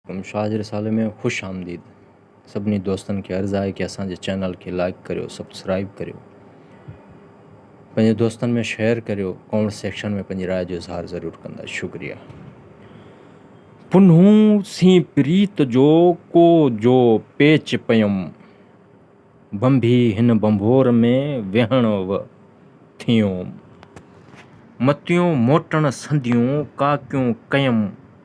ھن شاھه جي رسالي ۾ خوش آمديد سڀني دوستن کي عرض آھي ڪي اسان جي چينل کي لائيڪ ڪريو سبسڪرائيب ڪريو پنھنجي دوستن ۾ شيئر ڪريو ڪامينٽ سيڪشن ۾ پنھنجي راء جو اظھار ضرور ڪندا شڪريا. پنھون سين پريت جو ڪو جو پيچ پيم بنڀي ھن بنڀور ۾ ويھڻ و ٿيوم متيون موٽڻ سنديون ڪاڪيون ڪيم.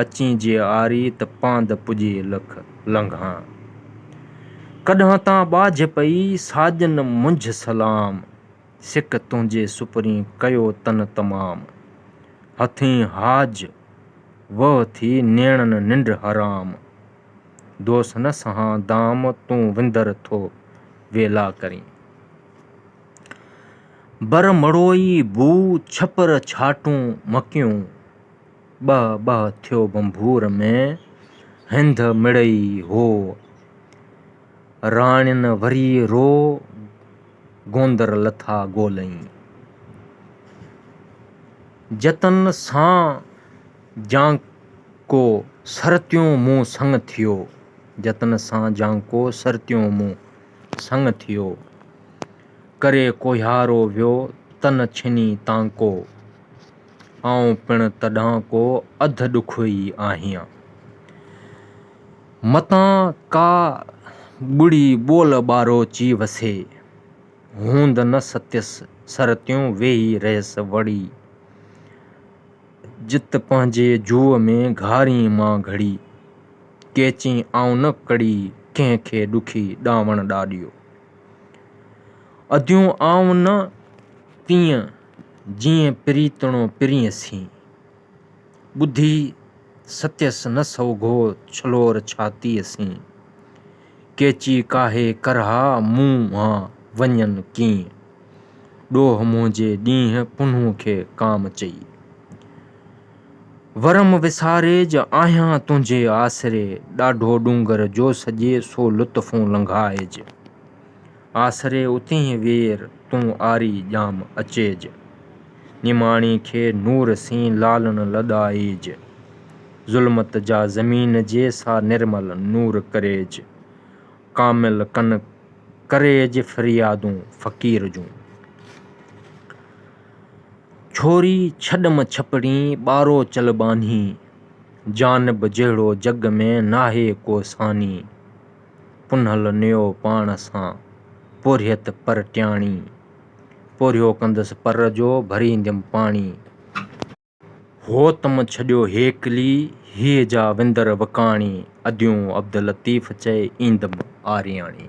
اچين جي آري ته پاند پڄي لک لنگهان. ڪڏهن تان ٻاجهه پئي ساڄن منجهه سلام. سڪ تنهنجي سپرين ڪيو تن تمام. هٿين حاج وهه ٿي نيڻن ننڊ حرام. دوس نه سهان دام تون وندر ٿو ويلا ڪرين. بر مڙوئي بوء ڇپر ڇاٽون مکيون. ٻهه ٻهه ٿيو ڀنڀور ۾، هنڌ مڙئي هو. راڻين وري رو گوندر لٿا ڳولئين. جتن سان جانڪو سرتيون مون سڱ ٿيو. جتن سان جانڪو سرتيون مون سڱ ٿيو. ڪري ڪوهيارو ويو تن ڇني تانڪو. آئون پڻ تڏهن ڪو اڌ ڏکو ئي آهيان. متان ڪا ڳڙي ٻول ٻاروچي وسي. هوند نه ستيس سرتيون ويهي رهيس وڙي. جت پنهنجي جوء ۾ گهارين مان گهڙي. ڪيچين آئون نه ڪڙي ڪنهن کي ڏکي ڏانوڻ ڏاڏيو. اديون آئون نه تيئن. جيئن پريتڻو پرينء سين. ٻڌي ستيس نه سوگهو ڇلور ڇاتيء سين. ڪيچي ڪاهي ڪرها منهن وڃن ڪيئن. ڏوهه منهنجي ڏينهن پنهون کي ڪام چئي. ورم وساري جو آهيان تنهنجي آسري. ڏاڍو ڏونگر جو سڄي سو لطفون لنگهائج. آسري اتينهين وير تون آري ڄام اچيج. نماڻي کي نور سين لالڻ لڏائيج. ظلمت جا زمين جي سا نرمل نور ڪريج. ڪامل ڪن ڪريج فريادون فقير جون. ڇوري ڇڏم ڇپڙين ٻارو چل ٻانهين. جانب جهڙو جڳ ۾ ناهي ڪو ثاني. پنهل نيو پاڻ سان پورهيت پر ٽياڻي، پورهيو ڪندس پر جو ڀرينديم پاڻي. هو تم ڇڏيو هيڪلي، هيء جا وندر وڪاڻي، اديون عبداللطيف چئي ايندم آرياڻي.